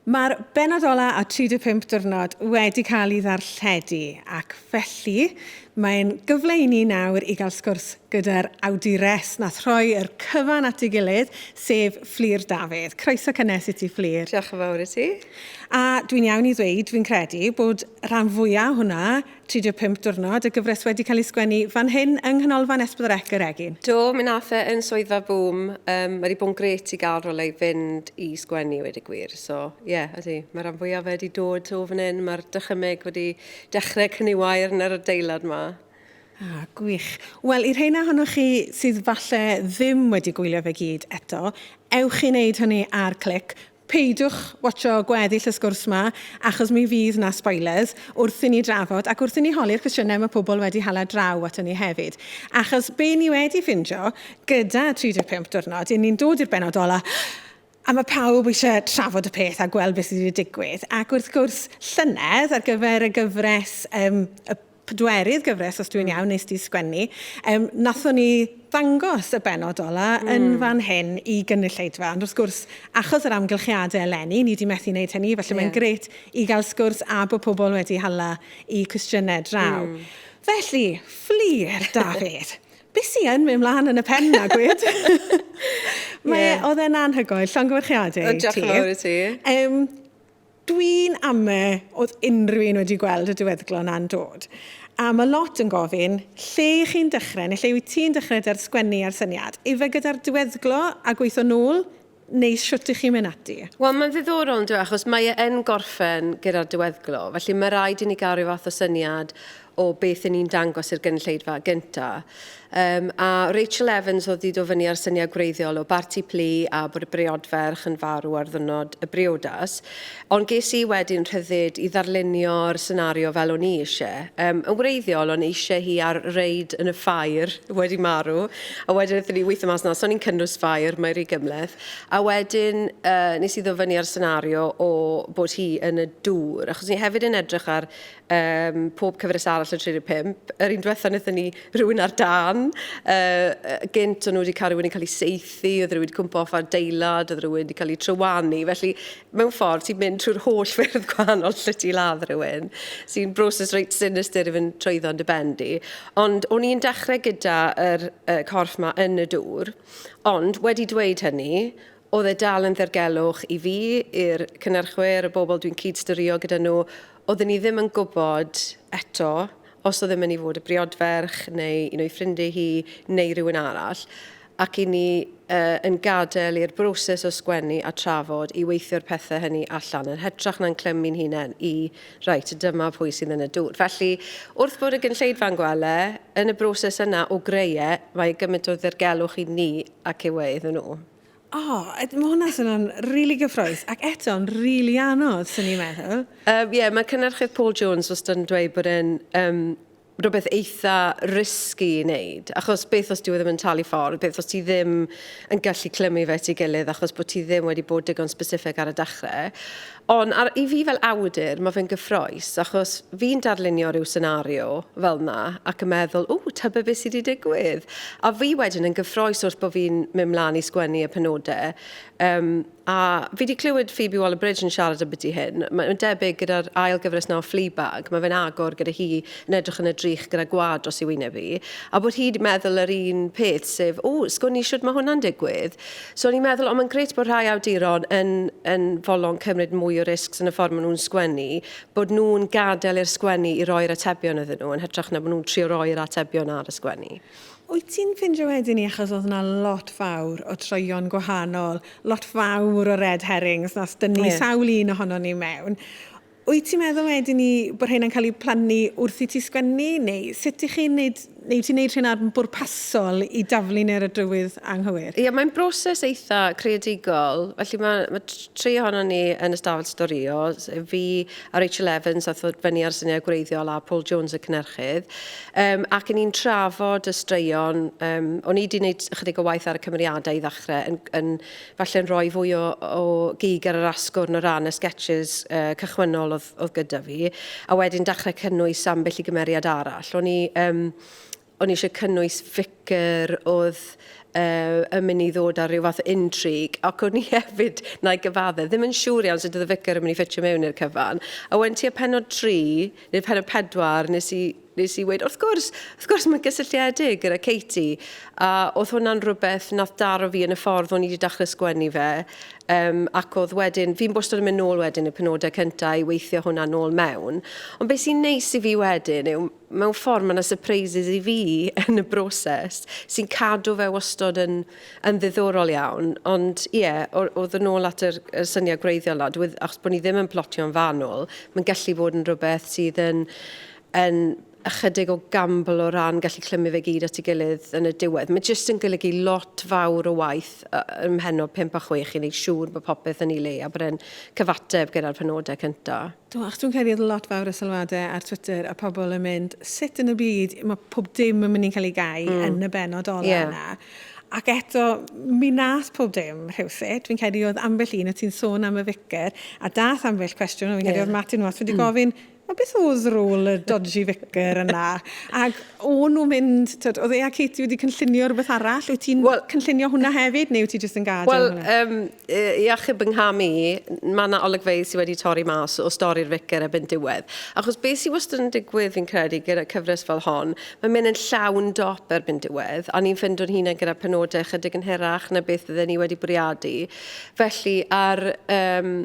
Mae'r bennod ola a 35 diwrnod wedi cael ei ddarlledu ac felly mae'n gyfle i ni nawr i gael sgwrs gyda'r awdures nath rhoi yr cyfan at ei gilydd, sef Fflur Dafydd. Croeso cynnes i ti Fflur. Diolch yn fawr i ti. A dwi'n iawn i ddweud, fi'n credu, bod rhan fwya' o hwnna 35 diwrnod, y gyfres wedi cael ei sgwennu fan hyn yng Nghanolfan S4C yr Egin. Do, mi nath e yn swyddfa Boom, yym ma di bod yn grêt i gal rywle i fynd i sgwennu wedi gwir, so ie ydi, ma ran fwya o fe di dod o fan hyn, ma'r dychymyg wedi dechre cniwair yn yr adeilad ma. Ah, gwych. Wel, i'r rheina ohonoch chi sydd falle ddim wedi gwylio fe gyd eto, ewch i neud hynny ar Clic, Peidiwch watsio gweddill y sgwrs 'ma, achos mi fydd 'na spoilers wrth i ni drafod ac wrth i ni holi'r cwestiynau mae pobl wedi hala draw ato ni hefyd. Achos be ni wedi ffindio gyda 35 Diwrnod, 'yn ni'n dod i'r bennod ola', a mae pawb eisiau trafod y peth a gweld beth sydd wedi digwydd. Ac wrth gwrs, llynedd, ar gyfer y gyfres yym y pedwerydd gyfres, os dwi'n mm. iawn, nes di sgwennu, um, nathon ni ddangos y benod ola mm. yn hmm. fan hyn i gynulleidfa. Ond wrth gwrs, achos yr amgylchiadau eleni, ni di methu wneud hynny, felly yeah. mae'n gret i gael sgwrs a bod pobl wedi hala i cwestiynau draw. Mm. Felly, fflir, Dafydd. Beth sy'n yn mynd mlaen yn y pen na, gwyd? Mae, yeah. oedd e'n anhygoel, llongyfarchiadau ti. Diolch yn fawr i ti. Um, Dwi'n ame oedd unrhyw un wedi gweld y diweddglo na'n dod. A ma' lot yn gofyn, lle i chi'n dechrau, neu lle wyt ti'n dechrau 'da'r sgwennu a'r syniad? Ife gyda'r diweddglo a gweithio nôl, neu shwt i chi'n mynd ati? Wel, mae'n ddiddorol yndyw e, achos mae e yn gorffen gyda'r diweddglo, felly ma' raid i ni gael rhyw fath o syniad o beth yn ni'n dangos i'r gynulleidfa gynta. Um, a Rachel Evans oedd wedi dod fyny ar syniad gwreiddiol o barti plu a bod y briodferch yn farw ar ddynod y briodas. Ond ges i wedyn rhyddid i ddarlunio'r senario fel o'n i eisiau. Um, yn wreiddiol, o'n eisiau hi ar reid yn y ffair wedi marw, a wedyn ydyn ni weithio mas na, so ni'n cynnwys ffair, mae rhi gymleth. A wedyn uh, nes i ddod fyny ar senario o bod hi yn y dŵr, achos ni hefyd yn edrych ar um, pob cyfres arall o 35. Yr un diwetha wnaethon ni rhywun ar dan, uh, gynt o'n nhw wedi cael rhywun yn cael ei seithi, oedd rhywun wedi cwmpa off ar deilad, oedd rhywun wedi cael ei trywanu. Felly, mewn ffordd, ti'n mynd trwy'r holl ffyrdd gwahanol lle ti ladd rhywun, sy'n broses reit sinister i fynd trwyddo yn dy bendi. Ond o'n i'n dechrau gyda'r er, uh, corff yma yn y dŵr, ond wedi dweud hynny, oedd e dal yn ddergelwch i fi, i'r cynnyrchwyr, y bobl dwi'n cyd-styrio gyda nhw, Oedden ni ddim yn gwybod eto os oedd e'n mynd i fod y briodferch neu un o'i ffrindiau hi neu rhywun arall ac i ni uh, yn gadael i'r broses o sgwennu a trafod i weithio'r pethau hynny allan yn hytrach na'n clymu'n hunain i reit, dyma pwy sydd yn y dŵr. Felly, wrth bod y gynlleidfa'n gwele, yn y broses yna o greu e, mae gymaint o ddirgelwch i ni ac yw e iddyn nhw. Oh, mae hwnna swnio'n rili really gyffroes, ac eto'n rili really anodd, sy'n ni'n meddwl. Ie, uh, yeah, mae cynnyrchydd Paul Jones os yn dweud bod e'n um, rhywbeth eitha risgu i wneud, achos beth os dwi e ddim yn talu ffordd, beth os ti ddim yn gallu clymu fe ti gilydd achos bod ti ddim wedi bod digon specific ar y dechrau. Ond ar, i fi fel awdur, mae fe'n gyffrous, achos fi'n darlunio rhyw senario fel 'na, ac yn meddwl, ww, tybed beth sy 'di digwydd? A fi wedyn yn gyffrous wrth bo' fi'n mynd 'mlan i sgwennu y penode. Yym, a fi 'di clywed Phoebe Waller-Bridge yn siarad ambyti hyn. Mae, mae'n debyg gyda'r ail gyfres 'na o Fleabag, mae fe'n agor gyda hi yn edrych yn y drych gyda gwad dros ei wyneb hi, a bod hi 'di meddwl yr un peth, sef, ww, sgwn i shwt mae hwnna'n digwydd? So o'n i'n meddwl, ond mae'n gret bod rhai awduron yn, yn folon cymryd mwy o risgs yn y ffordd maen nhw'n sgwennu, bod nhw'n gadael i'r sgwennu i roi'r atebion iddyn nhw, yn hytrach na bod nhw'n trio roi'r atebion ar y sgwennu. Wyt ti'n ffindio wedyn ni, achos oedd yna lot fawr o troeon gwahanol, lot fawr o red herrings, nas dynnu yeah. sawl un ohono ni mewn, Wyt ti'n meddwl wedyn ni bod rheina'n cael eu plannu wrth i ti sgwennu, neu sut i chi'n neud, neu wyt ti'n neud rheina yn bwrpasol i daflu neu'r y drywydd anghywir? Ie, mae'n broses eitha creadigol, felly ma' ma' t- tri ohonon ni yn y stafell storio, s- fi a Rachel Evans ath ddod fyny a'r syniad gwreiddiol a Paul Jones y cynhyrchydd, yym ac 'yn ni'n trafod y straeon, yym o'n i 'di neud ychydig o waith ar y cymeriadau i ddechrau yn yn falle'n rhoi fwy o, o gig ar yr asgwrn o ran y sketches uh, cychwynnol oedd, oedd gyda fi, a wedyn dechrau cynnwys ambell i gymeriad arall. O'n i, um, o'n i eisiau cynnwys ficer oedd uh, yn mynd i ddod ar rhyw fath o intrig, ac o'n i hefyd, na i gyfadde, ddim yn siŵr iawn sut oedd y ficer yn mynd i ffitio mewn i'r cyfan. A wedyn ti y penod 3, neu'r penod 4, nes i Nes i weud, wrth gwrs, wrth gwrs mae'n gysylltiedig gyda Katie. A oedd hwnna'n rhywbeth nath daro fi yn y ffordd o'n i wedi dechrau sgwennu fe. Um, ac oedd wedyn, fi'n bwstod yn mynd nôl wedyn y penodau cyntaf i weithio hwnna nôl mewn. Ond beth sy'n neis i fi wedyn yw, mewn ffordd mae yna surprises i fi yn y broses sy'n cadw fe wastod yn, yn ddiddorol iawn. Ond ie, yeah, oedd yn ôl at yr, yr syniad gwreiddiol na, achos bod ni ddim yn plotio'n fanwl, mae'n gallu bod yn rhywbeth sydd yn yn ychydig o gamble o ran gallu clymu fe gyd at ei gilydd yn y diwedd. Mae jyst yn golygu lot fawr o waith ym mhennod 5 a 6 i wneud siŵr bod popeth yn ei le a bod e'n cyfateb gyda'r penodau cyntaf. Do, achos dwi'n credu oedd lot fawr o sylwadau ar Twitter a pobl yn mynd, sut yn y byd mae pob dim yn mynd i'n cael ei gau yn y bennod ola yna? Ac eto, mi wnaeth pob dim rhywsut. Dwi'n credu oedd ambell un, o ti'n sôn am y ficer, a daeth ambell cwestiwn, a fi'n credu oedd Martin Watts wedi gofyn, O beth oedd rôl y dodgy vicar yna? Ac o'n nhw'n mynd, tyd, oedd e a Katie wedi cynllunio rhywbeth arall? Wyt ti'n well, cynllunio hwnna hefyd, neu wyt ti jyst yn gadael well, hwnna? Wel, um, i achub yng ngham i, mae yna olygfeydd sydd wedi torri mas o stori'r vicar erbyn diwedd. Achos beth sy'n wastad yn digwydd fi'n credu gyda cyfres fel hon, mae'n mynd yn llawn dop erbyn diwedd, a ni'n ffindo'n hunain gyda penodau chydig yn hirach na beth fydden ni wedi bwriadu. Felly, ar um,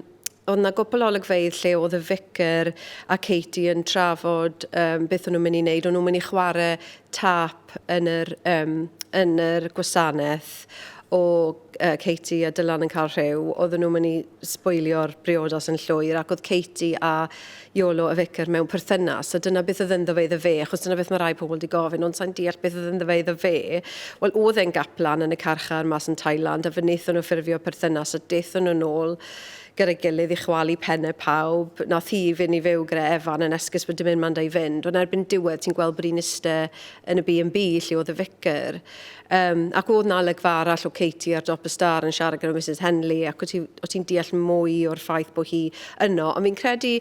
Oedd 'na gwpl o olygfeydd lle oedd y Ficer a Katie yn trafod um, beth o'n nhw'n mynd i wneud. O'n nhw'n mynd i chwarae tap yn yr, um, yn yr gwasanaeth o uh, Katie a Dylan yn cael rhyw. Oedden nhw'n mynd i sbwylio'r briodas yn llwyr ac oedd Katie a Iolo y Ficer mewn perthynas, a dyna beth oedd ynddo fe iddo fe, achos dyna beth mae rhai pobl wedi gofyn, ond sa'n deall beth oedd ynddo fe iddo fe. Wel, oedd e'n gaplan yn y carchar mas yn Thailand, a fe wnaethon nhw ffurfio perthynas, a daethon nhw nôl gyda'i gilydd i chwalu penne pawb. Nath hi fynd i fyw gyda Evan yn esgus bod dim un man 'da i fynd, ond erbyn diwedd ti'n gweld bod hi'n iste yn y B&B lle oedd y Ficer. Um, ac oedd na olygfa arall o Katie ar dop y star yn siarad gyda Mrs Henley ac o ti'n ti deall mwy o'r ffaith bod hi yno. Ond fi'n credu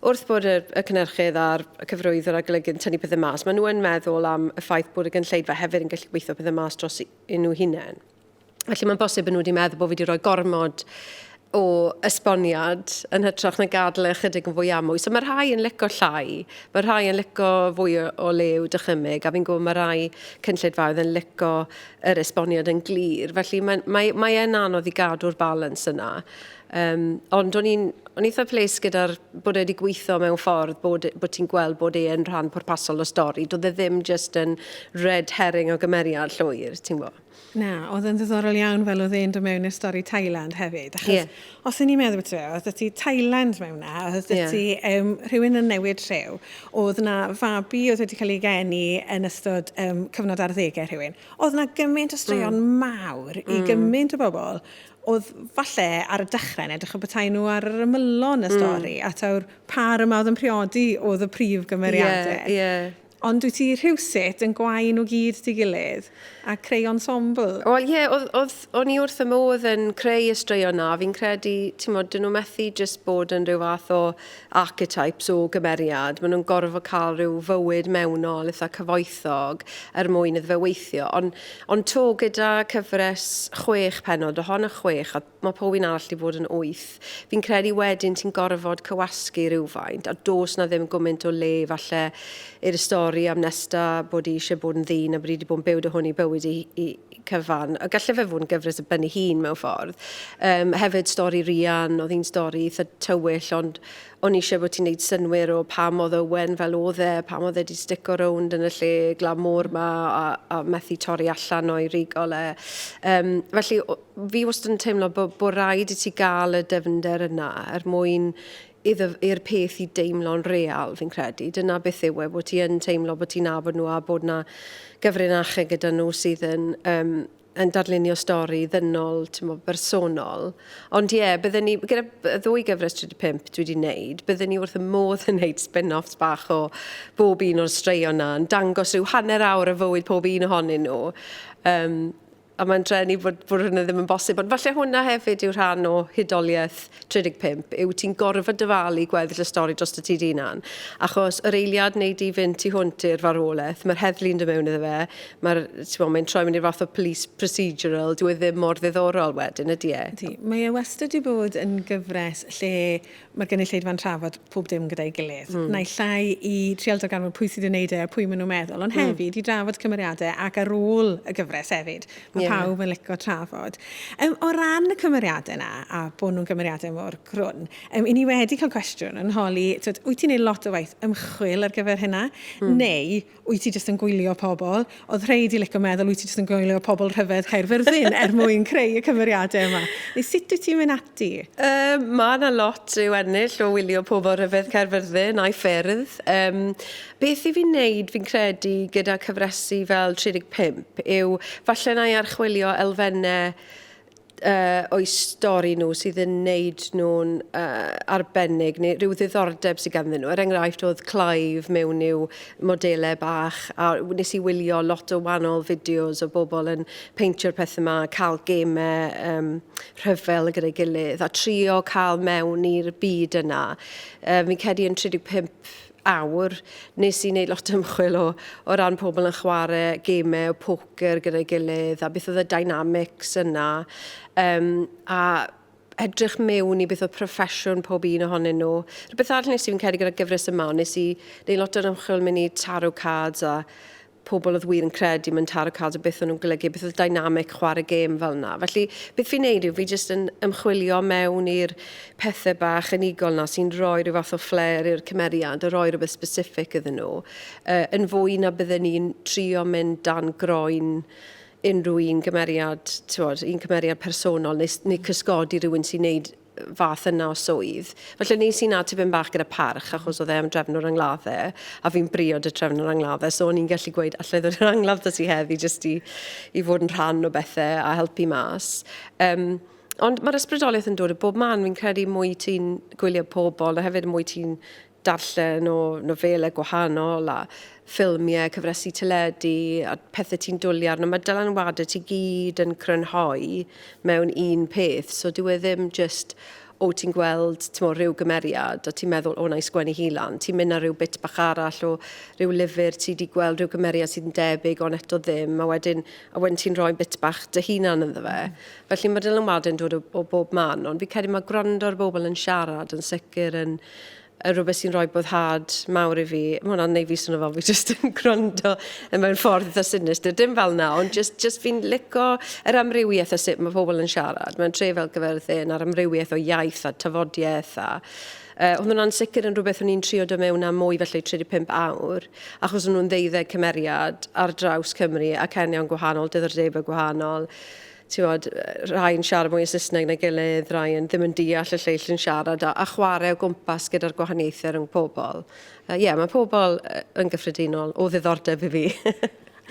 wrth bod y, y cynnyrchydd a'r cyfrwyddwr a golygydd yn tynnu pethau mas, maen nhw yn meddwl am y ffaith bod y gynllleidfa hefyd yn gallu gweithio pethau mas dros un nhw hunain. Felly mae'n bosib bod nhw wedi meddwl bod fi wedi rhoi gormod o esboniad yn hytrach na gadel e ychydig yn fwy amwy. So mae rhai yn lico llai, mae rhai yn lico fwy o, o le i'w dychymyg, a fi'n gwybod mae rhai cynllidfaoedd yn lico yr esboniad yn glir. Felly mae, mae, mae e'n anodd i gadw'r balans yna. Um, ond o'n i'n o'n eitha ples gyda'r bod wedi gweithio mewn ffordd bod, e, bod ti'n gweld bod e'n rhan pwrpasol o stori. Doedd e ddim just yn red herring o gymeriad llwyr, ti'n gwybod? Na, oedd yn ddiddorol iawn fel oedd e'n dod mewn i'r stori Thailand hefyd. Achos yeah. os o'n i'n meddwl beth rhaid, oedd ti Thailand mewn na, oedd yeah. ti um, rhywun yn newid rhyw, oedd na fabi oedd wedi cael ei geni yn ystod um, cyfnod ar ddegau rhywun. Oedd na gymaint o straeon mm. mawr i mm. gymaint o bobl oedd falle ar y dechrau yn edrych o bethau nhw ar yr ymylon y mm. stori, mm. a tawr par yma oedd yn priodi oedd y prif gymeriadau. Yeah, yeah. Ond wyt ti rhywsut yn gwau nhw gyd dy gilydd a creu ensemble? Wel ie, oedd, oedd, o'n i wrth fy modd yn creu y straeon 'na, fi'n credu, timod, 'dyn nhw methu jyst bod yn rhyw fath o archetypes o gymeriad, maen nhw'n gorfod cael rhyw fywyd mewnol eitha' cyfoethog er mwyn iddo fe weithio. Ond, ond 'to, gyda cyfres chwech pennod, o hon y chwech, a, mae pob un arall wedi bod yn wyth. Fi'n credu wedyn ti'n gorfod cywasgu rhywfaint a dos na ddim gwmynt o le falle i'r stori am Nesta bod i eisiau bod yn ddyn a bod i wedi bod yn byw dy hwn i bywyd i, i cyfan. A gallu fe fod yn gyfres y bynnu hun mewn ffordd. Um, hefyd stori Rian, oedd hi'n stori eitha tywyll ond o'n eisiau bod ti'n neud synwyr o pam oedd Owen fel oedd e, pam oedd e wedi stico rownd yn y lle glamwr ma a, a methu torri allan o'i rigol e. Um, felly Fi wastad yn teimlo bo, bo raid i ti gael y dyfnder yna er mwyn iddo, i'r peth i deimlo'n real, fi'n credu. Dyna beth yw e, bod ti yn teimlo bod ti'n nabod nhw a bod na gyfrinachau gyda nhw sydd yn, um, yn darlunio stori ddynol, timo, bersonol. Ond ie, yeah, bydden ni, gyda ddwy gyfres 35 dwi wedi wneud, bydden ni wrth y modd yn wneud spin-offs bach o bob un o'r straeon na, yn dangos rhyw hanner awr o fywyd pob un ohonyn nhw. Um, a mae'n dreni bod, bod hwnna ddim yn bosib, ond falle hwnna hefyd yw rhan o hudoliaeth 35, yw ti'n gorfod dyfalu gweddill y stori dros y tyd unan, achos yr eiliad neu di fynd tu hwnt i'r farwolaeth, mae'r heddlu'n dod mewn iddo fe, mae'r, ti'n bod, mae'n troi mewn i'r fath o police procedural, dwi e ddim mor ddiddorol wedyn, ydy e? Ydy, mae e wastad wedi bod yn gyfres lle mae'r gynulleidfa'n trafod pob dim gyda'i gilydd. Mm. Naill ai i trial darganfod pwy sydd yn neud e a pwy maen nhw'n meddwl, ond mm. hefyd mm. i drafod cymeriadau ac ar ôl y gyfres hefyd. Mae yeah. pawb yn licio trafod. Um, o ran y cymeriadau yna, a bod nhw'n cymeriadau mor grwn, um, i ni wedi cael cwestiwn yn holi, tyd, wyt ti'n neud lot o waith ymchwil ar gyfer hynna? Mm. Neu wyt ti jyst yn gwylio pobl, oedd rhei di lico meddwl wyt ti jyst yn gwylio pobl rhyfedd Caerfyrddin er mwyn creu y cymeriadau yma. Neu sut wyt ti'n mynd ati? Um, mae yna lot i'w ennill o wylio pobl rhyfedd Caerfyrddin a'i ffyrdd. Um, beth i fi'n neud fi'n credu gyda cyfresu fel 35 yw falle na i archwilio elfennau uh, o'u stori nhw sydd yn neud nhw'n uh, arbennig neu rhyw ddiddordeb sydd ganddyn nhw. Er enghraifft oedd Clive mewn i'w modelau bach a nes i wylio lot o wahanol fideos o bobl yn peintio'r pethau yma, cael gemau um, rhyfel gyda'i gilydd a trio cael mewn i'r byd yna. Uh, fi'n cedi yn 35 awr, nes i wneud lot o ymchwil o, o ran pobl yn chwarae gemau poker gyda'i gilydd a beth oedd y dynamics yna. Um, a edrych mewn i beth oedd proffesiwn pob un ohonyn nhw. Rhywbeth arall nes i fi'n credu gyda gyfres yma, nes i wneud lot o'r ymchwil mynd i tarot cards a pobl oedd wir yn credu mewn tarot cards a beth o'n nhw'n golygu, beth oedd dynamic chwarae gêm fel yna. Felly, beth fi'n neud yw fi jyst yn ymchwilio mewn i'r pethau bach unigol yna sy'n rhoi rhyw fath o flair i'r cymeriad a rhoi rhywbeth specific iddyn nhw, uh, yn fwy na bydden ni'n trio mynd dan groen unrhyw un gymeriad, ti'n bod, un cymeriad personol neu, neu cysgodi rhywun sy'n neud fath yna o swydd. Felly nes i 'na tipyn bach gyda parch achos oedd e am drefn o'r angladde a fi'n briod y trefn o'r angladde so o'n i'n gallu gweud allai ddod i'r angladd dda ti heddi jyst i, i fod yn rhan o bethau a helpu mas. Um, Ond mae'r ysbrydoliaeth yn dod o bob man. Fi'n credu mwy ti'n gwylio pobl a hefyd mwy ti'n darllen o nofelau gwahanol a ffilmiau, cyfresi teledu a pethau ti'n dwlu arno, mae dylanwadau ti gyd yn crynhoi mewn un peth. So dyw e ddim jyst, o ti'n gweld mo, rhyw gymeriad a ti'n meddwl, o na i sgwennu hi lan. Ti'n mynd ar rhyw bit bach arall o rhyw lyfr, ti wedi gweld rhyw gymeriad sydd yn debyg ond eto ddim, a wedyn, a wedyn ti'n rhoi bit bach dy hunan ynddo fe. Mm. Felly mae dylanwadau'n dod o, o bob man, ond fi'n credu mae gwrando ar bobl yn siarad yn sicr yn y rhywbeth sy'n rhoi boddhad mawr i fi. Mae hwnna'n neud fi swnio fel fi jyst yn gwrando mewn ffordd eitha sinistr. Dim fel na, ond jyst, jyst fi'n lico yr amrywiaeth o sut mae pobl yn siarad. Mae'n tre fel gyferddin a'r amrywiaeth o iaith a tafodiaeth a... Uh, oedd hwnna'n sicr yn rhywbeth o'n i'n trio do mewn am mwy felly 35 awr, achos o'n nhw'n ddeuddeg cymeriad ar draws Cymru ac ennion gwahanol, dyddordebau gwahanol. Timod, rhai yn siarad mwy o Saesneg na'i gilydd, rhai yn ddim yn deall y lleill yn siarad, a, a chwarae o gwmpas gyda'r gwahaniaethau rhwng pobl. Ie, uh, yeah, mae pobl uh, yn gyffredinol o ddiddordeb i fi.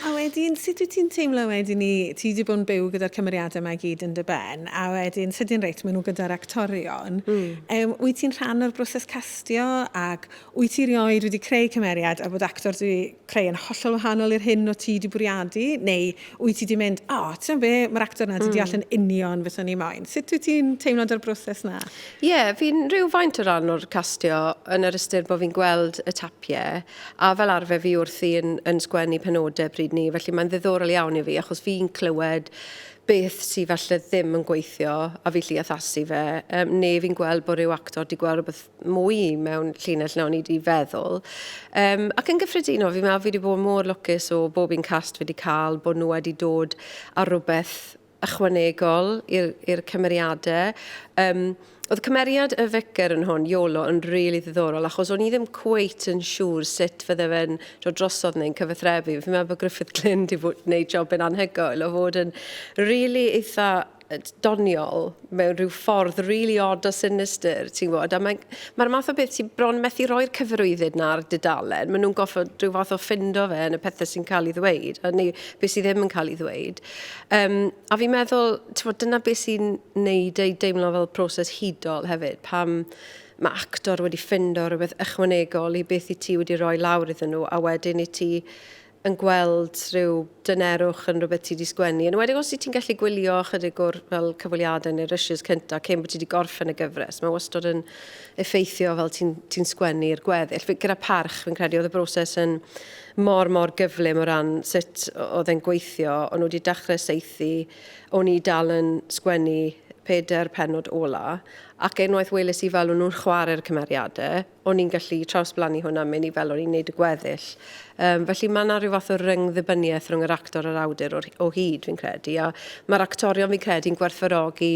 A wedyn, sut wyt ti'n teimlo wedyn ni, ti wedi bod yn byw gyda'r cymeriadau yma i gyd yn dy ben, a wedyn, sydyn reit, maen nhw gyda'r actorion. Mm. Um, wyt ti'n rhan o'r broses castio ac wyt ti rioed wedi creu cymeriad a bod actor dwi creu yn hollol wahanol i'r hyn o ti di bwriadu, neu wyt ti di mynd, o, oh, ti'n be, mae'r actor na di deall yn union beth o'n i moyn. Sut wyt ti'n teimlo da'r broses na? Ie, yeah, fi'n rhyw faint o ran o'r castio yn yr ystyr bod fi'n gweld y tapiau, a fel arfer fi wrthi yn, yn sgwennu penodau pryd ni, felly mae'n ddiddorol iawn i fi, achos fi'n clywed beth sydd falle ddim yn gweithio a fi lli addasu fe, um, neu fi'n gweld bod rhyw actor di gweld rhywbeth mwy mewn llinell na o'n i wedi feddwl. Um, ac yn gyffredinol, fi'n meddwl fi wedi bod mor lwcus o bob un cast fi wedi cael, bod nhw wedi dod ar rhywbeth ychwanegol i'r cymeriadau. Um, Oedd cymeriad y ficar yn hwn, Iolo, yn rili really ddiddorol, achos o'n i ddim cweit yn siŵr sut fydde fe'n dod drosodd neu'n cyfathrebu. Fi'n meddwl bod Griffith Glyn wedi gwneud job yn anhygoel o fod yn rili really eitha doniol mewn rhyw ffordd really odd o sinister, ti'n gwybod, a mae'n ma math o beth ti bron methu roi'r cyfarwyddyd na ar dudalen, maen nhw'n goffod rhyw fath o ffindo fe yn y pethau sy'n cael ei ddweud, a neu beth sydd ddim yn cael ei ddweud. Um, a fi'n meddwl, ti'n gwybod, dyna beth sy'n neud ei deimlo fel proses hudol hefyd, pam mae actor wedi ffindo rhywbeth ychwanegol i beth i ti wedi rhoi lawr iddyn nhw, a wedyn i ti yn gweld rhyw dynerwch yn rhywbeth ti 'di sgwennu, yn enwedig os wyt ti'n gallu gwylio ychydig o'r fel cyfweliadau neu'r rushes cynta cyn bod ti 'di gorffen y gyfres. Mae wastod yn effeithio fel ti'n ti'n sgwennu'r gweddill. Fi, gyda Parch, fi'n credu oedd y broses yn mor, mor gyflym o ran sut oedd e'n gweithio. O'n nhw wedi dechrau saethu, o'n i dal yn sgwennu pedair pennod ola, ac unwaith weles i fel o'n nhw'n chwarae'r cymeriadau, o'n i'n gallu trawsblannu hwn a mynd i fel o'n i'n neud y gweddill. Um, felly mae yna rhyw fath o ryngddibyniaeth rhwng yr actor a'r awdur o, o hyd, fi'n credu. A mae'r actorion, fi'n credu, yn gwerthfarogi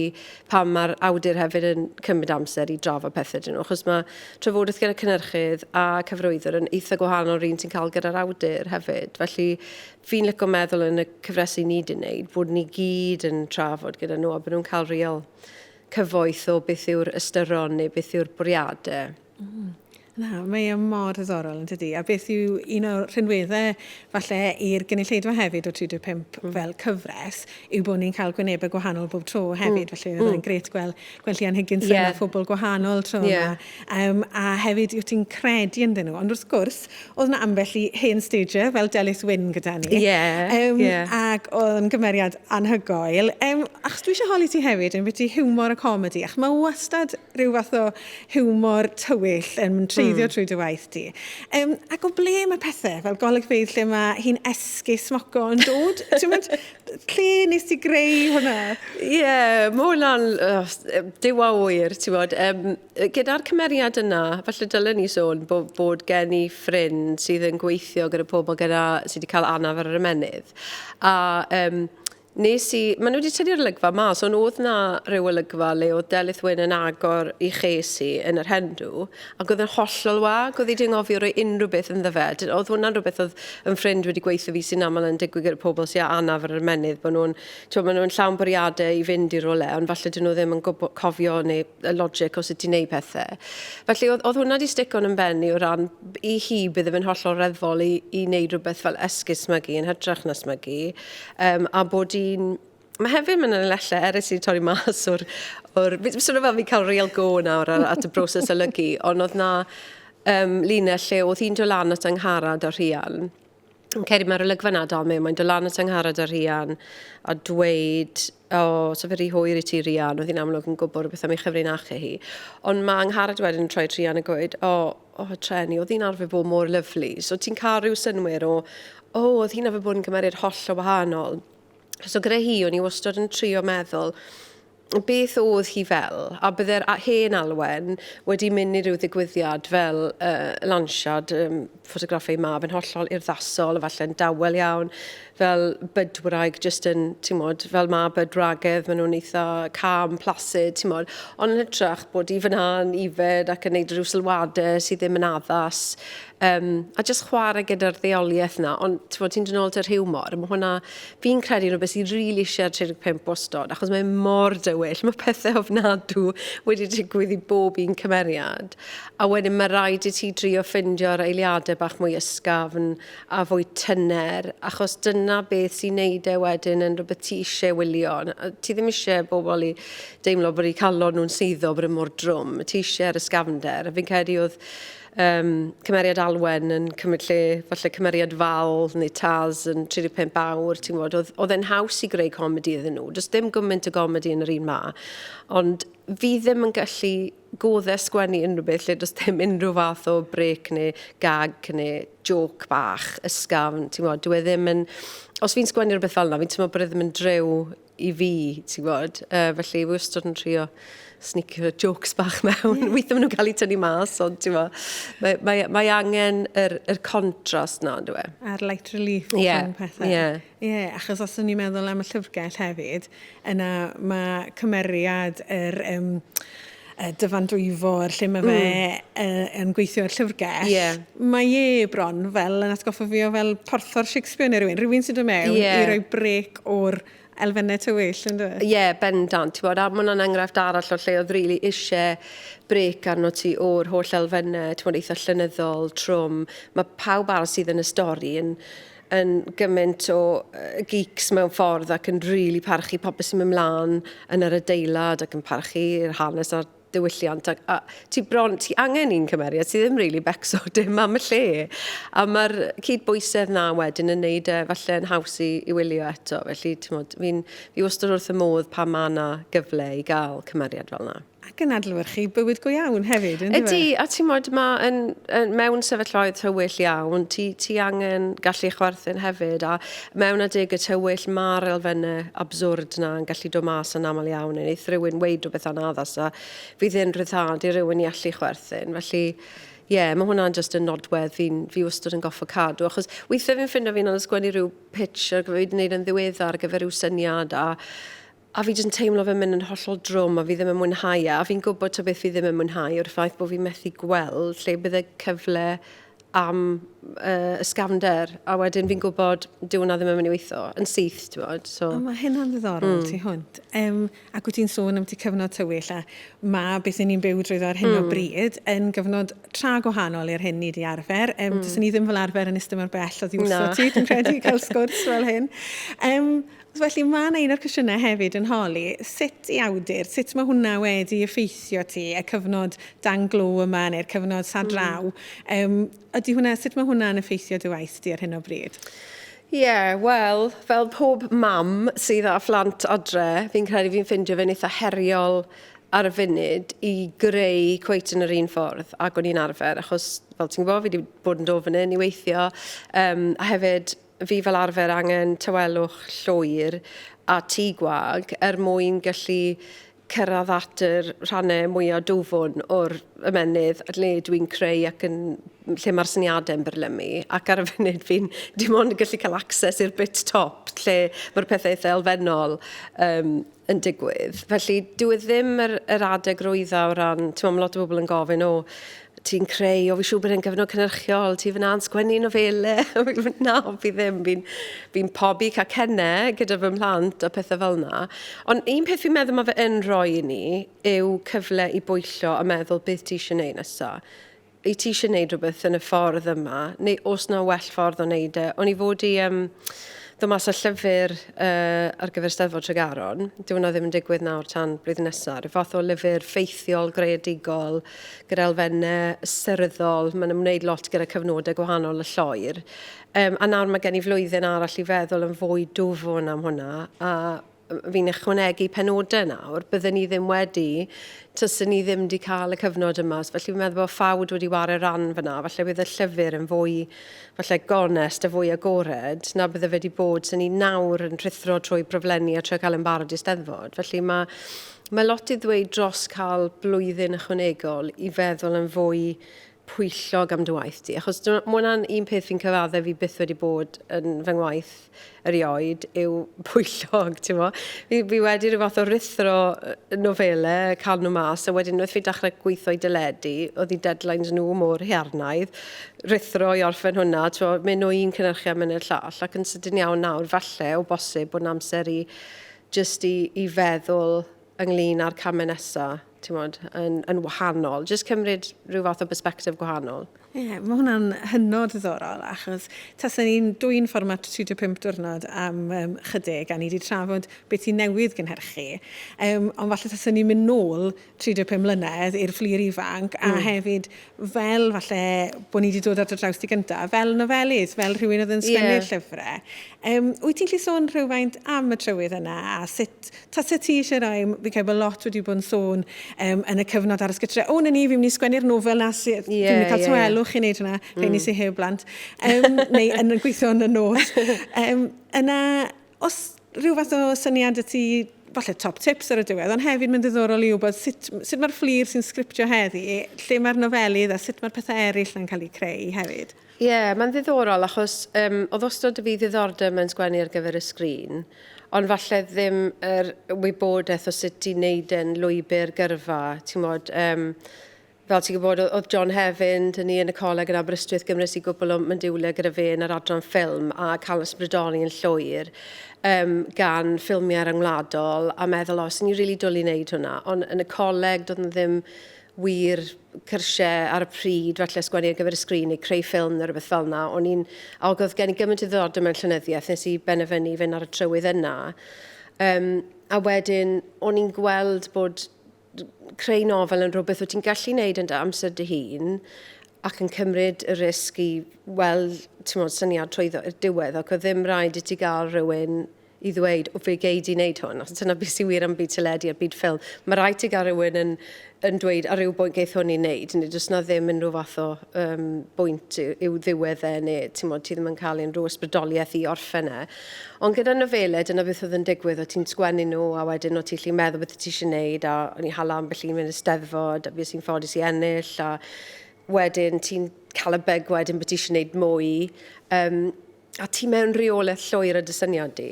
pan mae'r awdur hefyd yn cymryd amser i drafod pethau dyn nhw. Achos mae trafodaeth gyda cynnyrchydd a cyfrwyddwr yn eitha gwahanol o'r un ti'n cael gyda'r awdur hefyd. Felly fi'n licio meddwl yn y cyfresu ni wedi'n neud bod ni gyd yn trafod gyda nhw a bod nhw'n cael real cyfoeth o beth yw'r ystyron neu beth yw'r bwriadau. Mm. Na, mae e mor ddiddorol yn dydy. A beth yw un o'r rhinweddau falle i'r gynulleidfa hefyd o 35 mm. fel cyfres yw bod ni'n cael gwynebau gwahanol bob tro hefyd. Mm. Felly mm. oedd e'n gret gweld, gweld Llian Higgins yeah. a phobl gwahanol tro yeah. yma. Yym, a hefyd, wyt ti'n credu ynddyn nhw? Ond wrth gwrs, oedd yna ambell i hen stager fel Delyth Wyn gyda ni. Ie, um, ie. Ac oedd yn gymeriad anhygoel. Um, achos dwi eisiau holi ti hefyd yn byti hiwmor a comedi, ac mae wastad rhyw fath o hiwmor tywyll yn treiddio mm. trwy dy waith ti. Um, ac o ble mae pethau fel golygfeydd lle mae hi'n esgus moco yn dod? Ti'n mynd, Lle nes ti greu hwnna? Ie, yeah, mae hwnna'n uh, diwa oer, ti'n bod. Um, Gyda'r cymeriad yna, falle dylen ni sôn bod, bod gen i ffrind sydd yn gweithio gyda pobl gyda, sydd wedi cael anaf ar yr ymenydd. A um, nes i, maen nhw wedi tynnu'r olygfa mas, ond oedd na rhyw olygfa le oedd Delyth Wyn yn agor i ches i yn yr hendw, Ac oedd yn hollol wag, oedd hi 'di anghofio rhoi unrhyw beth ynddo fe. Dy- oedd hwnna'n rhywbeth oedd yn ffrind wedi gweithio fi sy'n aml yn digwydd gyda pobl sy â anaf ar yr ymennydd, bod nhw'n, t'mo', maen nhw'n llawn bwriadau i fynd i rywle, ond falle 'dyn nhw ddim yn gwbo- cofio neu y logic o sut i wneud pethe. Felly, oedd, oedd hwnna 'di stico yn 'y mhen i o ran, b- i hi, bydde fe'n hollol reddfol i, i wneud rhywbeth fel esgus smygu, yn hytrach na smygu, yym, a bod hi'n, Mae hefyd yn y lelle erys i torri mas o'r... o'r... Fi'n swnio fel fi'n cael real go nawr ar, at y broses olygu, ond oedd na um, linell lle oedd hi'n dod lan at angharad a rhian. Yn ceri mae'r olygfa na dal mewn, mae'n dod lan at angharad a rhian a dweud, o, oh, so fe rhi hwyr i ti rhian, oedd hi'n amlwg yn gwybod rhywbeth am ei chyfrin achu hi. Ond mae angharad wedyn yn troi rhian a gweud, o, oh, o, oh, treni, oedd hi'n arfer bod mor lyflu. So ti'n cael rhyw synwyr o, o, oh, oedd hi'n arfer bod yn cymeriad holl o wahanol. So gyda hi, o'n i wastad yn trio meddwl beth oedd hi fel, a bydde'r hen Alwen wedi mynd i ryw ddigwyddiad fel uh, lansiad um, ffotograffau mab yn hollol urddasol, efallai'n dawel iawn, fel bydwraig, jyst yn, ti'n modd, fel mab bydwragedd, maen nhw'n eitha cam, plasid, ti'n modd, ond yn hytrach bod i fyna'n ifed ac yn neud rhyw sylwadau sydd ddim yn addas, um, a just chwarae gyda'r ddeoliaeth na, ond ti'n ti dyn ôl dy rhiwmor, mae hwnna, fi'n credu yn o beth sy'n rili really eisiau 35 wastod, achos mae mor dywyll, mae pethau ofnadw wedi digwydd i bob un cymeriad, a wedyn mae rhaid i ti drio ffindio'r eiliadau bach mwy ysgafn a fwy tyner, achos dyna beth sy'n neud e wedyn yn rhywbeth ti eisiau wylio, ti ddim eisiau bobl i deimlo bod eu calon nhw'n suddo bod yn e mor drwm, ti eisiau'r ysgafnder, a fi'n credu oedd Yym, cymeriad Alwen yn cymryd lle, falle cymeriad Val neu Taz yn 35 awr, ti'n gwybod, oedd, oedd e'n haws i greu comedi iddyn nhw. Does dim gymaint o gomedi yn yr un ma. Ond fi ddim yn gallu goddau sgwennu unrhyw beth lle does dim unrhyw fath o brec neu gag neu jôc bach, ysgafn, ti'n gwybod, dyw e ddim yn... Os fi'n sgwennu rhywbeth fel yna, fi'n teimlo bod e ddim yn driw i fi, ti'n gwybod. Uh, felly, fi wastad yn trio snicio jokes bach mewn. Yeah. Weithio maen nhw'n cael eu tynnu mas, ond ti'n gwybod, mae, mae, mae angen yr, yr contrast na, dwi. E? A'r light relief yeah. rhwng pethau. Ie. Yeah. yeah, achos os o'n i'n meddwl am y llyfrgell hefyd, yna mae cymeriad yr... Um, y dyfan dwyfor lle mae fe mm. uh, yn gweithio ar llyfrgell, yeah. mae e bron fel yn atgoffa fi o fel porthor Shakespeare neu rhywun, rhywun sy'n dod mewn yeah. i roi brec o'r elfennau tywyll, yn dweud? Ie, yeah, bendant. Ti'n bod, a mae hwnna'n enghraifft arall o lle oedd rili really eisiau brec arno ti o'r holl elfennau, ti'n bod, eitha llynyddol, trwm. Mae pawb arall sydd yn y stori yn yn gymaint o geeks mewn ffordd ac yn rili really parchu popeth sy'n mynd mlaen yn yr adeilad ac yn parchu'r hanes a'r diwylliant. A, a ti bron, ti angen un cymeriad sydd ddim rili really becso dim am y lle. A mae'r cydbwysedd na wedyn yn neud e falle yn haws i, i wylio eto. Felly, ti'n modd, fi'n, fi wastad wrth y modd pa mae yna gyfle i gael cymeriad fel yna. Ac yn adlewyrchu bywyd go iawn hefyd, yn dyw e? Ydy, a ti'n modd, mae yn, yn, mewn sefyllfaoedd tywyll iawn, ti, ti angen gallu chwerthin hefyd, a mewn adeg y tywyll mae'r elfennau abswrd na yn gallu dod mas yn aml iawn, yn eith rhywun weid rhywbeth anaddas a fydd yn rhyddhad i rhywun i allu chwerthin, felly ie, yeah, mae hwnna'n just yn nodwedd fi'n fi wastad yn goffo cadw, achos weithiau fi'n ffindo fi'n anodd sgwennu rhyw pitch ar gyfer wedi wneud yn ddiweddar ar gyfer rhyw syniad a a fi jyst yn teimlo fe'n mynd yn hollol drwm a fi ddim yn mwynhau e a fi'n gwybod ta beth fi ddim yn mwynhau yw'r ffaith bod fi methu gweld lle bydd y cyfle am uh, ysgafnder a wedyn fi'n gwybod dyw hwnna ddim yn mynd i weithio yn syth ti'n bod so... o, mae hynna'n ddiddorol mm. ti hwnt um, ac wyt ti'n sôn am ti cyfnod tywyll a mae beth ni'n byw drwyddo ar hyn mm. o bryd yn gyfnod tra gwahanol i'r hyn ni wedi arfer um, mm. dys ni ddim fel arfer yn ystod mor bell o ddiwrso ti dwi'n credu cael sgwrs fel hyn um, Felly, mae 'na un o'r cwestiynau hefyd yn holi sut i awdur, sut mae hwnna wedi effeithio ti, y cyfnod dan glo yma neu'r cyfnod sa draw. Yym, ydy hwnna, sut mae hwnna'n effeithio dy waith di ar hyn o bryd? Ie, yeah, wel, fel pob mam sydd â phlant adre, fi'n credu fi'n ffindio fe'n eitha heriol ar y funud i greu cweit yn yr un ffordd ac o'n i'n arfer, achos fel ti'n gwybod, fi wedi bod yn dod fan hyn i weithio, um, a hefyd fi fel arfer angen tawelwch llwyr a tŷ gwag er mwyn gallu cyrraedd at yr rhannau mwyaf dwfwn o'r ymennydd lle dwi'n creu ac yn lle mae'r syniadau yn byrlymu ac ar y funud fi'n dim ond yn gallu cael access i'r bit top lle mae'r pethau eitha elfennol um, yn digwydd. Felly, dyw e ddim yr, yr adeg rwydda o ran, ti'n meddwl, lot o bobl yn gofyn, o, ti'n creu, o, fi siŵr bod e'n gyfnod cynnyrchiol, ti fyna yn sgwennu nofele, na, fi ddim, fi'n fi pobi cacennau gyda fy mhlant a pethau fel yna. Ond un peth fi'n meddwl mae fe yn rhoi i ni yw cyfle i bwyllo a meddwl beth ti eisiau gwneud nesaf. wyt ti eisiau gwneud rhywbeth yn y ffordd yma, neu os na well ffordd o wneud e. O'n i fod i um, ddod mas â llyfr uh, ar gyfer Steddfod Tregaron. Dyw hwnna ddim yn digwydd nawr tan blwyddyn nesaf. Rhyw fath o lyfr ffeithiol, greadigol, gyda elfennau ysyryddol. Mae'n ymwneud lot gyda cyfnodau gwahanol y lloer. Um, a nawr mae gen i flwyddyn arall i feddwl yn fwy dwfwn am hwnna. A fi'n ychwanegu penodau nawr, bydden ni ddim wedi, tysyn ni ddim wedi cael y cyfnod yma. Felly fi'n meddwl bod ffawd wedi wario ran fyna. Felly bydd y llyfr yn fwy felly gonest a fwy agored na bydde fe wedi bod sy'n ni nawr yn rhithro trwy broflenni a trwy cael yn barod i steddfod. Felly mae, mae lot i ddweud dros cael blwyddyn ychwanegol i feddwl yn fwy pwyllog am dy waith di, achos ma' hwnna'n un peth fi'n cyfaddau fi byth wedi bod yn fy ngwaith erioed yw pwyllog, ti'n mo? Fi, fi wedi rhyw fath o rithro nofele, cael nhw mas, a wedyn wrth fi dechrau gweithio i dyledu, oedd i deadlines nhw mor hiarnaidd, rithro i orffen hwnna, ti'n mo, mynd o un cynnyrchu a mynd i'r llall, ac yn sydyn iawn nawr, falle, o bosib, bod yn amser i just i, i feddwl ynglyn â'r camau nesaf. timod, yn, yn wahanol. Just cymryd rhyw fath o perspective gwahanol. Ie, yeah, mae hwnna'n hynod ddiddorol, achos taswn ni'n dwy'n fformat 35 diwrnod am um, chydig, a ni wedi trafod beth sy'n newydd gynhyrchu, um, ond falle taswn ni'n mynd nôl 35 mlynedd i'r fflir ifanc, a mm. hefyd fel falle bod ni wedi dod at y draws di gyntaf, fel nofelydd, fel rhywun oedd yn sgwennu'r yeah. llyfrau. Um, wyt ti'n lli sôn rhywfaint am y trywydd yna, a sut Tase ti eisiau rhai, m- fi'n credu bod lot wedi bod yn sôn um, yn y cyfnod ar ysgytre, o, na ni, fi'n mynd i sgwennu'r nofel na, sy, yeah, fi'n mynd i cael yeah, tywelwch yeah. i wneud hynna, mm. rhaid i si heb blant, um, neu yn gweithio yn y nos. Um, yna, os rhyw fath o syniad y ti falle top tips ar y diwedd, ond hefyd mae'n ddiddorol i wybod sut, sut mae'r fflir sy'n sgriptio heddi, lle mae'r nofelydd a sut mae'r pethau eraill yn cael eu creu hefyd. Ie, mae'n ddiddorol achos yym oedd wastad 'da fi ddiddordeb mewn sgwennu ar gyfer y sgrin, ond falle ddim yr wybodaeth o sut i wneud e'n lwybr gyrfa, ti'n gwybod. Yym, fel ti'n gwybod, oedd oedd John Hefin 'da ni yn y coleg yn Aberystwyth, gymres i gwpl o myndiwle gyda fe yn yr adran ffilm, a cael ysbrydoli yn llwyr yym gan ffilmiau ryngwladol, a meddwl, o, 'sen ni'n rili dwli wneud hwnna. Ond yn y coleg, doedd 'na ddim wir cyrsiau ar y pryd, falle sgwennu ar gyfer y sgrin neu creu ffilm neu rhywbeth fel yna. O'n i'n awg oedd gen i gymaint o ddiddordeb mewn llenyddiaeth, nes i benderfynu i fynd ar y trywydd yna. Um, a wedyn, o'n i'n gweld bod creu nofel yn rhywbeth wyt ti'n gallu wneud yn dy amser dy hun ac yn cymryd y risg i weld tymod, syniad trwy i'r diwedd ac oedd ddim rhaid i ti gael rhywun i ddweud, o fe gei di wneud hwn, achos dyna beth sy'n wir am byd teledu a byd ffilm. Mae rhaid ti gael rhywun yn, yn dweud ar ryw bwynt geith hwn i wneud, neu does na ddim unrhyw fath o um, bwynt i'w ddiwedd e, neu ti'n modd, ti ddim yn cael unrhyw ysbrydoliaeth i orffen e. Ond gyda nofele, dyna beth oedd yn digwydd, o ti'n sgwennu nhw, a wedyn o ti'n lli meddwl beth ti eisiau gwneud, a o'n i hala ambell un mynd y steddfod, a fi sy'n ffodus i ennill, a wedyn ti'n cael y beg wedyn bod ti eisiau gwneud mwy. Um, a ti mewn rheolaeth llwyr y dy syniad di,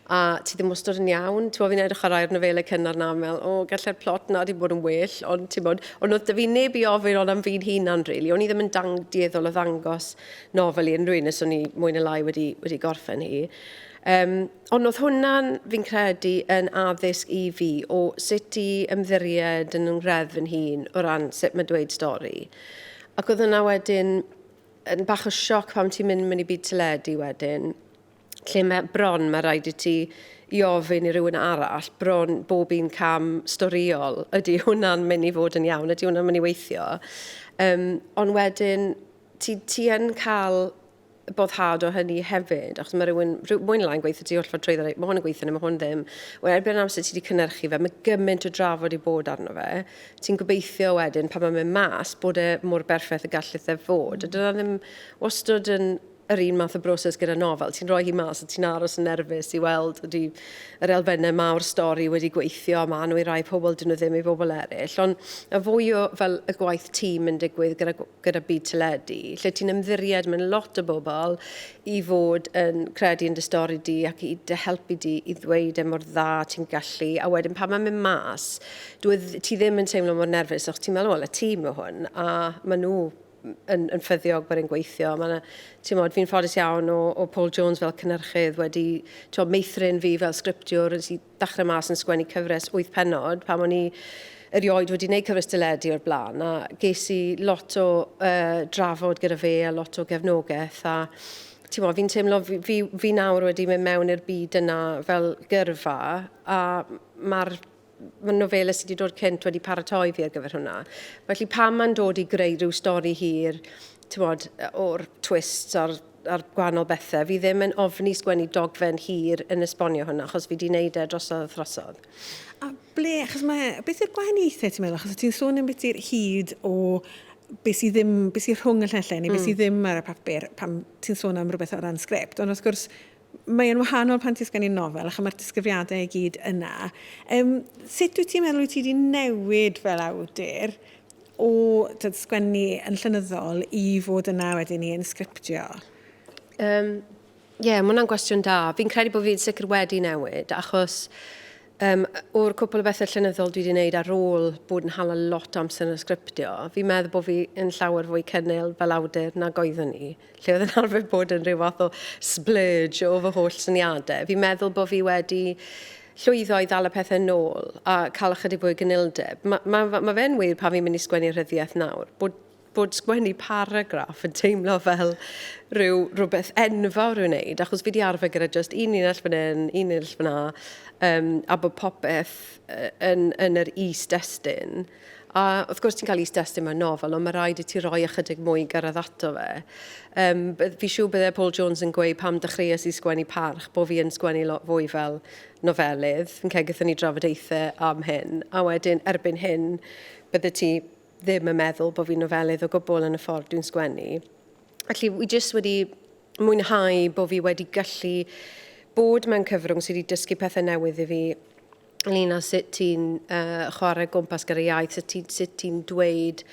a ti ddim wastod yn iawn. Ti'n bod, fi'n edrych ar rhai o'r nofelau cynnar na, fel, o, gallai'r plot na di bod yn well, ond ti'n bod, ond oedd dy fi neb i ofyn ond am fi'n hunan, rili. Really. O'n i ddim yn dang dieddol o ddangos nofel i unrhyw un, nes o'n i mwy na lai wedi, wedi gorffen hi. Um, ond oedd hwnna'n, fi'n credu, yn addysg i fi o sut i ymddiried yn yng ngreddf yn hun o ran sut mae dweud stori. Ac oedd hwnna wedyn yn bach o sioc pan ti'n mynd mewn i byd teledu wedyn, lle mae bron, mae rhaid i ti i ofyn i rywun arall bron bob un cam storiol, ydy hwnna'n mynd i fod yn iawn, ydy hwnna'n mynd i weithio. Um, ond wedyn, ti, ti yn cael boddhad o hynny hefyd, achos mae rhywun, mwyn lai'n gweithio ti holl ffordd trwy ddweud, mae hwn yn gweithio neu mae hwn ddim. Wel, erbyn amser ti wedi cynnyrchu fe, mae gymaint o drafod i bod arno fe, Ti'n gobeithio wedyn pan mae'n mynd mas bod e mor berffaith y gallith e fod. A dyna ddim wastad yn yr un math o broses gyda nofel. Ti'n rhoi hi mas a ti'n aros yn nerfus i weld ydy yr elfennau ma o'r stori wedi gweithio a maen nhw i rai pobl, dyn nhw ddim i bobl eraill. Ond y fwy o fel y gwaith tîm yn digwydd gyda gyda byd teledu, lle ti'n ymddiried mewn lot o bobl i fod yn credu yn dy stori di ac i dy helpu di i ddweud e mor dda ti'n gallu, a wedyn pan mae'n mynd mas, dwi, e ti ddim yn teimlo mor nerfus, o'ch ti'n meddwl, wel, y tîm o hwn, a maen nhw yn, yn ffyddiog bod e'n gweithio. Mae ti'n modd, fi'n ffodus iawn o, o Paul Jones fel cynnyrchydd wedi, ti'n meithrin fi fel sgriptiwr, yn sy'n dechrau mas yn sgwennu cyfres wyth pennod pam o'n i erioed wedi gwneud cyfres dyledu o'r blaen a ges i lot o uh, drafod gyda fe a lot o gefnogaeth a ti'n mo, fi'n teimlo fi, fi, fi nawr wedi mynd mewn i'r byd yna fel gyrfa a mae'r mae nofelau sydd wedi dod cynt wedi paratoi fi ar gyfer hwnna. Felly pam mae'n dod i greu rhyw stori hir, ti'n bod, o'r twists a'r ar gwahanol bethau. Fi ddim yn ofni sgwennu dogfen hir yn esbonio hwnna, achos fi di wneud e drosodd a throsodd. A ble, achos mae, beth yw'r gwahaniaethau ti'n meddwl? Achos ti'n sôn yn beth i'r hyd o beth sydd ddim, beth sydd rhwng y llenllen neu beth sydd hmm. ddim ar y papur pan ti'n sôn am rhywbeth o ran sgript. Ond wrth gwrs, Mae e'n wahanol pan ti'n sgwennu nofel, achos mae'r disgrifiadau i gyd yna. Um, sut wyt ti'n meddwl wyt ti wedi newid fel awdur o tyd, sgwennu yn llynyddol i fod yna wedyn ni yn sgriptio? Um, Ie, yeah, mae hwnna'n gwestiwn da. Fi'n credu bod fi'n sicr wedi newid, achos Um, o'r cwpl o bethau llenyddol dwi wedi gwneud ar ôl bod yn hala lot amser yn y sgriptio, fi'n meddwl bod fi yn llawer fwy cynnil fel awdur nag oeddwn i, lle oedd yn arfer bod yn rhyw fath o splurge o fy holl syniadau. Fi'n meddwl bod fi wedi llwyddo i ddal y pethau nôl a cael ychydig fwy o gynildeb. Mae ma, ma fe'n wir pan fi'n mynd i sgwennu rhyddiaeth nawr, bod bod sgwennu paragraff yn teimlo fel rhyw rhywbeth enfawr i'w wneud, achos fi wedi arfer gyda just un linell fan hyn, un linell fan 'na, um, a bod popeth yn, yn yr is-destun. A wrth gwrs ti'n cael is-destun mewn nofel, ond mae rhaid i ti roi ychydig mwy gyrraedd ato fe. Um, fi siw byddai Paul Jones yn gweud pam dechreuais i sgwennu parch, bod fi yn sgwennu lot fwy fel nofelydd. Fi'n cael gyda ni drafodaethau am hyn, a wedyn erbyn hyn, bydde ti ddim yn meddwl bod fi'n nofelydd o gwbl yn y ffordd dwi'n sgwennu. Felly, wi jyst wedi mwynhau bod fi wedi gallu bod mewn cyfrwng sydd wedi dysgu pethau newydd i fi ynglyn â sut ti'n uh, chwarae gwmpas gyda iaith, sut ti'n ti dweud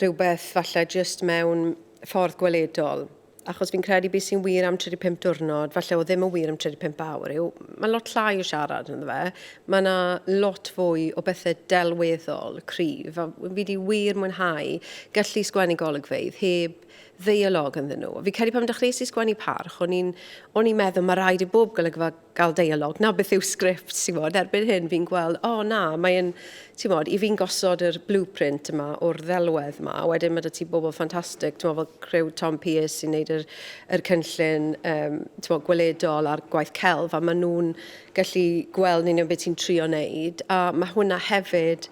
rhywbeth falle jyst mewn ffordd gweledol. achos fi'n credu beth sy'n wir am 35 diwrnod, falle o ddim yn wir am 35 awr, yw mae lot llai o siarad yn fe. Mae yna lot fwy o bethau delweddol, cryf, a fi wedi wir mwynhau gallu sgwennu golygfeydd heb ddeialog ynddyn nhw. Fi credu pan dechreuais i sgwennu parch, o'n i'n meddwl mae rhaid i bob golygfa gael deialog, na beth yw sgript, ti'n bod, erbyn hyn fi'n gweld, o oh, na, mae'n, ti'n bod, i fi'n gosod yr blueprint yma o'r ddelwedd yma, a wedyn mae dy ti bobl ffantastig, ti'n bod, fel crew Tom Pierce sy'n neud yr, yr cynllun, um, ti'n bod, gweledol a'r gwaith celf, a maen nhw'n gallu gweld yn union beth ti'n trio neud, a mae hwnna hefyd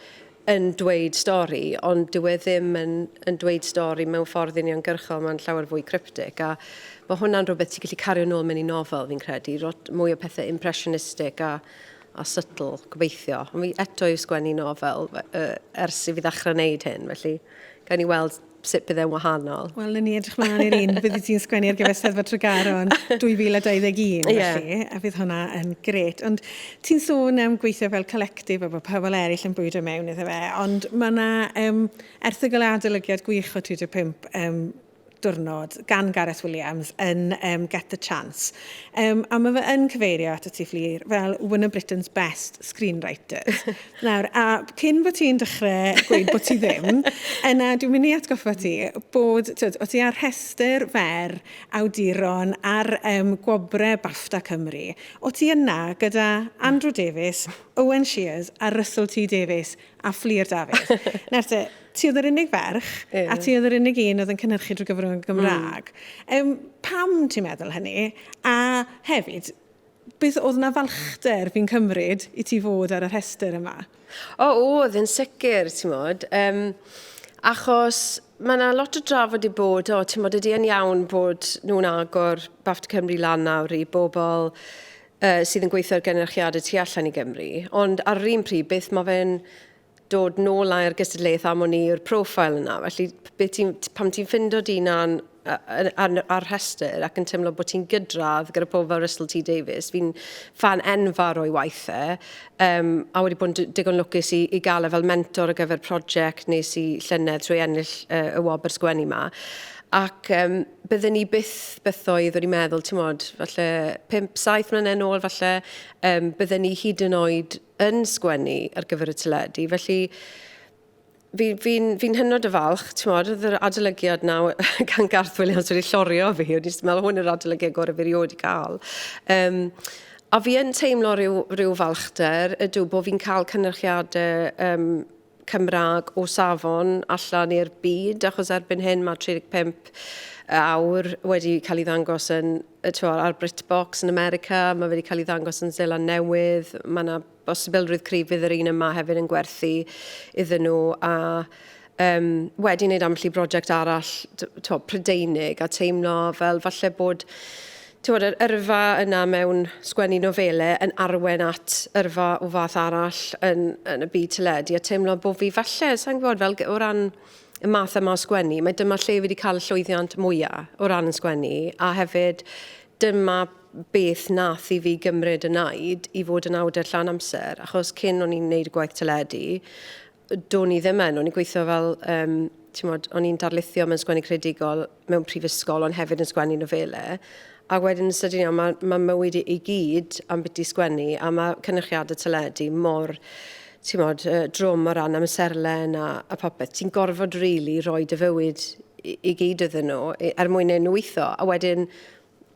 yn dweud stori, ond dyw e ddim yn yn dweud stori mewn ffordd uniongyrchol, mae'n llawer fwy cryptic, a ma' hwnna'n rhywbeth ti'n gallu cario nôl mewn i nofel, fi'n credu, rot mwy o pethe impressionistic a a subtle, gobeithio. Ond fi eto yw sgwennu nofel, yy, ers i fi ddechrau wneud hyn, felly gawn ni weld sut bydd e'n wahanol? Wel, na ni edrych mlaen i'r un byddi ti'n sgwennu ar gyfer Steddfod Tregaron 2021, yeah. felly, a bydd hwnna yn gret. Ond ti'n sôn am gweithio fel collectif a bod pobl eraill yn bwydo mewn iddo fe, ond mae yna um, erthygl adolygiad gwych o 35 um, diwrnod gan Gareth Williams yn um, Get the Chance. Um, a mae fe yn cyfeirio at y tu fflir fel one of Britain's best screenwriters. Nawr, a cyn bod ti'n dechrau gweud bod ti ddim, yna dwi'n mynd i atgoffa ti bod, tyd, o ti ar rhestr fer awduron ar um, gwobre BAFTA Cymru. O ti yna gyda Andrew Davies, Owen Shears a Russell T Davies a Fflir Dafydd. Nawr te, ti oedd yr unig ferch, yeah. a ti oedd yr unig un oedd yn cynhyrchu drwy gyfrwng y Gymraeg. Mm. Um, pam ti'n meddwl hynny? A hefyd, Beth, oedd 'na falchder, fi'n cymryd, i ti fod ar y rhestr yma? O, oedd, yn sicr, timod. Um, achos mae yna lot o drafod i bod, o, ti'n modd ydy yn iawn bod nhw'n agor Bafta Cymru lan nawr i bobl uh, sydd yn gweithio ar gynrychiadau tu allan i Gymru, ond ar yr un pryd, beth mae fe'n dod nôl ai'r gystadleuaeth am o'n i yw'r profile yna. Felly, be ti'n, pam ti'n ffindo di na'n ar, ar rhestr ac yn teimlo bod ti'n gydradd gyda pobl fel Russell T Davies. Fi'n fan enfawr o'i waith e, um, a wedi bod yn digon lwcus i, i gael e fel mentor ar gyfer prosiect nes i llynedd trwy ennill uh, y wobr sgwennu yma. Ac um, byddwn ni byth bythoedd wedi meddwl, ti'n modd, falle 5-7 mlynedd yn ôl, falle um, byddwn ni hyd yn oed yn sgwennu ar gyfer y teledu, felly fi, fi'n fi hynod o falch, ti'n modd, oedd yr adolygiad na gan Garth Williams wedi llorio fi, o'n i'n meddwl hwn yr adolygiad gorau fi rioed i gael. Um, a fi yn teimlo rhyw, rhyw falchder ydw bod fi'n cael cynrychiadau um, Cymraeg o safon allan i'r byd, achos erbyn hyn mae 35 awr wedi cael ei ddangos yn, twa, ar BritBox yn America, mae wedi cael ei ddangos yn Seland Newydd, mae yna bosibilrwydd cryf fydd yr un yma hefyd yn gwerthu iddyn nhw, a um, wedi wneud ambell i brosiect arall, twa, Prydeinig, a teimlo fel falle bod Timod, yr yrfa yna mewn sgwennu nofelau yn arwain at yrfa o fath arall yn, yn y byd teledu, a teimlo bod fi falle, sa'n gwybod, fel o ran y math yma o sgwennu, mae dyma lle fi wedi cael y llwyddiant mwyaf o ran yn sgwennu, a hefyd dyma beth nath i fi gymryd y naid i fod yn awdur llawn amser, achos cyn o'n i'n neud y gwaith teledu, do'n i ddim yn, o'n i'n gweithio fel, um, ti'n modd, o'n i'n darlithio mewn sgwennu credigol, mewn prifysgol ond hefyd yn sgwennu nofelau. A wedyn yn sydyn iawn, mae, mae mywyd i, i gyd am beth i sgwennu a mae cynrychiadau teledu mor ti'n modd, uh, drwm o ran amserlen a, a popeth. Ti'n gorfod rili really roi dy fywyd i, i gyd iddyn nhw er mwyn ei nhw weithio. A wedyn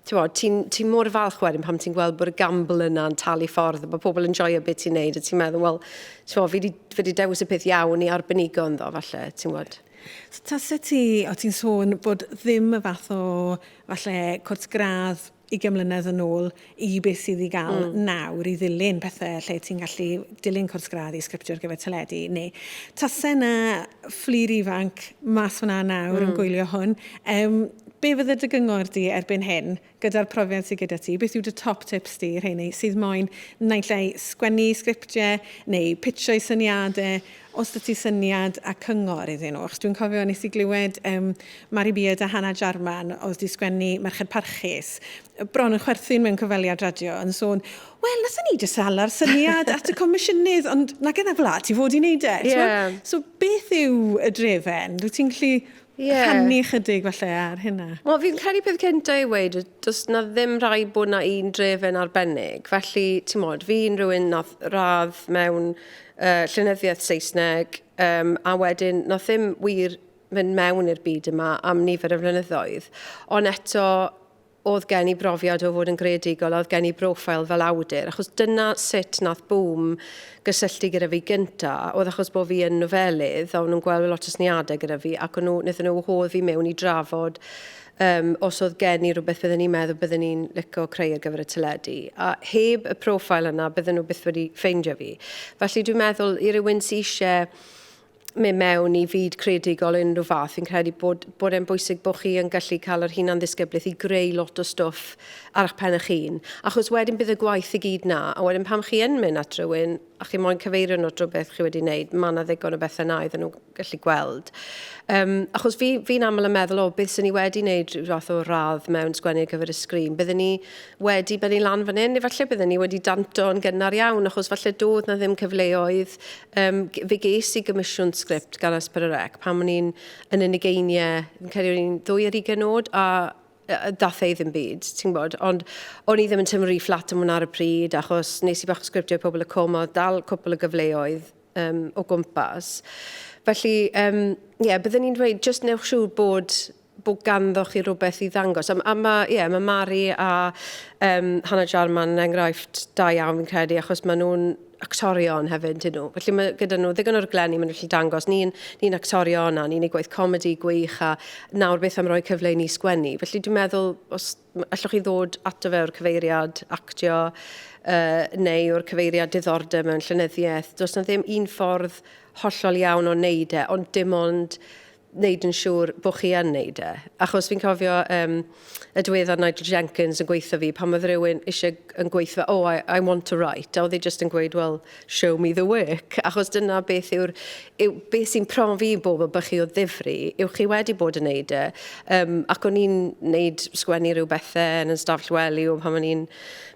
ti'n ti mor falch wedyn pam ti'n gweld bod y gamble yna'n talu ffordd, bod pobl yn joio beth ti'n neud, a ti'n meddwl, wel, ti'n meddwl, fi wedi, fi wedi dewis y peth iawn i arbenigo ynddo, falle, ti'n gwybod. So, tase ti, o ti'n sôn bod ddim y fath o, falle, cwrs gradd i gymlynedd yn ôl i beth sydd i gael mm. nawr i ddilyn pethau lle ti'n gallu dilyn cwrs gradd i sgriptio ar gyfer teledu neu tase na fflir ifanc mas fyna nawr mm. yn gwylio hwn um, Be fydde dy gyngor di erbyn hyn, gyda'r profiad sydd gyda ti, beth yw dy top tips di, rheiny sydd moyn naill ai sgwennu sgriptiau neu pitsio eu syniadau, os da ti syniad a cyngor iddyn nhw? Achos dwi'n cofio nes i glywed um, Mari Beard a Hannah Jarman oedd di sgwennu Merched Parchus, bron yn chwerthin mewn cyfweliad radio, yn sôn, wel, nathon ni jyst sala'r syniad at y comisiynydd, ond na gen a fla ti fod i wneud e. Yeah. So, beth yw y drefen? Rwyt ti'n gallu yeah. rhannu chydig falle ar hynna. Wel, fi'n credu peth cynta i weid, does na ddim rhai bod na un drefen arbennig. Felly, ti'n modd, fi'n rhywun nath radd mewn uh, llynyddiaeth Saesneg, um, a wedyn nath ddim wir mynd mewn i'r byd yma am nifer y flynyddoedd. Ond eto, oedd gen i brofiad o fod yn greadigol a oedd gen i broffil fel awdur, achos dyna sut nath Bûm gysylltu gyda fi gynta, oedd achos bod fi yn nofelydd, a o'n nhw'n gweld lot o syniadau gyda fi, ac o'n nhw, wnaethon nhw wahodd fi mewn i drafod um, os oedd gen i rhywbeth byddwn ni'n meddwl byddwn ni'n licio creu ar gyfer y teledu. A heb y profil yna, byddwn nhw byth wedi ffeindio fi. Felly dwi'n meddwl, i rywun sy'n eisiau mynd mewn i fyd creadigol o unrhyw fath, fi'n credu bod, bod e'n bwysig bod chi yn gallu cael yr hunan ddisgyblaeth i greu lot o stwff ar eich pen eich hun. Achos wedyn bydd y gwaith i gyd na, a wedyn pam chi yn mynd at rhywun a chi moyn cyfeirio nhw at rhywbeth chi wedi wneud, mae yna ddigon o bethau na iddyn nhw gallu gweld. Um, achos fi, fi'n aml yn meddwl, o, beth sy'n ni wedi wneud rhyw fath o radd mewn sgwennu ar gyfer y sgrin? Byddwn ni wedi bennu lan fan hyn, efallai byddwn ni wedi danto'n gynnar iawn, achos falle doedd na ddim cyfleoedd Yym, fe ges i gomisiwn sgript gan Asper y Rec pan o'n i'n yn yn ugeiniau, fi'n credu o'n i'n ddwy ar ugain oed, a ddath e i ddim byd, ti'n gwybod. Ond o'n i ddim yn teimlo rhy fflat am hwnna ar y pryd, achos nes i bach o sgriptiau i Pobol y Cwm, a oedd dal cwpl o gyfleoedd um, o gwmpas. Felly, um, ie, yeah, byddwn i'n dweud, jyst newch siŵr bod bod ganddo chi rhywbeth i ddangos. A, a mae, ie, yeah, mae Mari a um, Hannah Jarman yn enghraifft da iawn fi'n credu, achos maen nhw'n actorion hefyd, dyn nhw. Felly mae gyda nhw ddigon o'r glenni maen nhw'n gallu dangos. Ni'n ni, ni actorion a ni'n ei gwaith comedi gwych a nawr beth am roi cyfle i ni sgwennu. Felly dwi'n meddwl, os allwch chi ddod ato fe o'r cyfeiriad actio uh, neu o'r cyfeiriad diddordeb mewn llenyddiaeth, does na ddim un ffordd hollol iawn o wneud e, ond dim ond wneud yn siŵr bod chi yn wneud e. Achos fi'n cofio um, y diweddar Nigel Jenkins yn gweithio fi pan oedd rhywun eisiau yn gweithio, oh, I, I want to write. A oedd e jyst yn gweud, well, show me the work. Achos dyna beth yw'r... Yw, beth sy'n profi i bobl bych chi o ddifri, yw chi wedi bod yn wneud e. Um, ac o'n i'n wneud sgwennu rhyw bethau yn y stafell wely o pan o'n i'n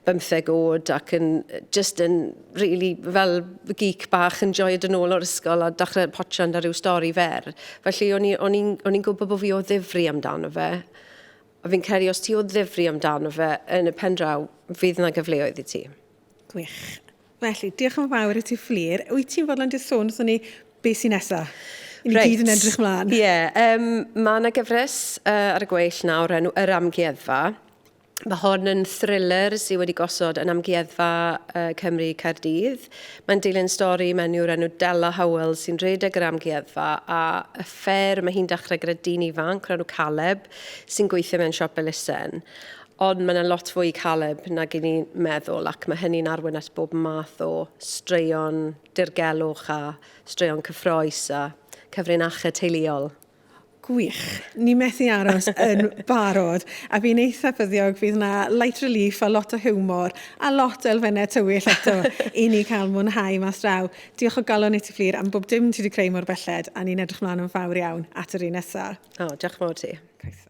bymtheg oed ac yn just yn rili fel geek bach yn joio dod nôl o'r ysgol a dachrau potsian da rhyw stori fer. Felly o'n i- o'n i'n o'n i'n gwybod bod fi o ddifri amdano fe. A fi'n credu os ti o ddifri amdano fe yn y pen draw fydd 'na gyfleoedd i ti. Gwych. Felly, diolch yn fawr i ti Fflur. Wyt ti'n fodlon jyst sôn wrthon ni be sy'n nesa? I ni gyd yn edrych mlaen. Ie, um, mae yna gyfres uh, ar y gweill nawr enw Yr Amgueddfa. Mae hon yn thriller sydd wedi gosod yn Amgueddfa Cymru Caerdydd. Mae'n dilyn stori menyw o'r enw Della Howell sy'n rhedeg yr amgueddfa a y ffer mae hi'n dechrau gyda dyn ifanc o'r enw Caleb sy'n gweithio mewn siop elusen. Ond mae yna lot fwy i Caleb nag i ni meddwl ac mae hynny'n arwain at bob math o straeon dirgelwch a straeon cyffroes a cyfrinachau teuluol. Gwych. Ni methu aros yn barod. A fi'n eitha ffyddiog fydd na light relief a lot o hiwmor a lot o elfennau tywyll eto i ni cael mwynhau mas draw. Diolch o galon i ti Fflur am bob dim ti wedi creu mor belled a ni'n edrych mlaen yn fawr iawn at yr un nesa. O, oh, diolch mor ti. Croeso.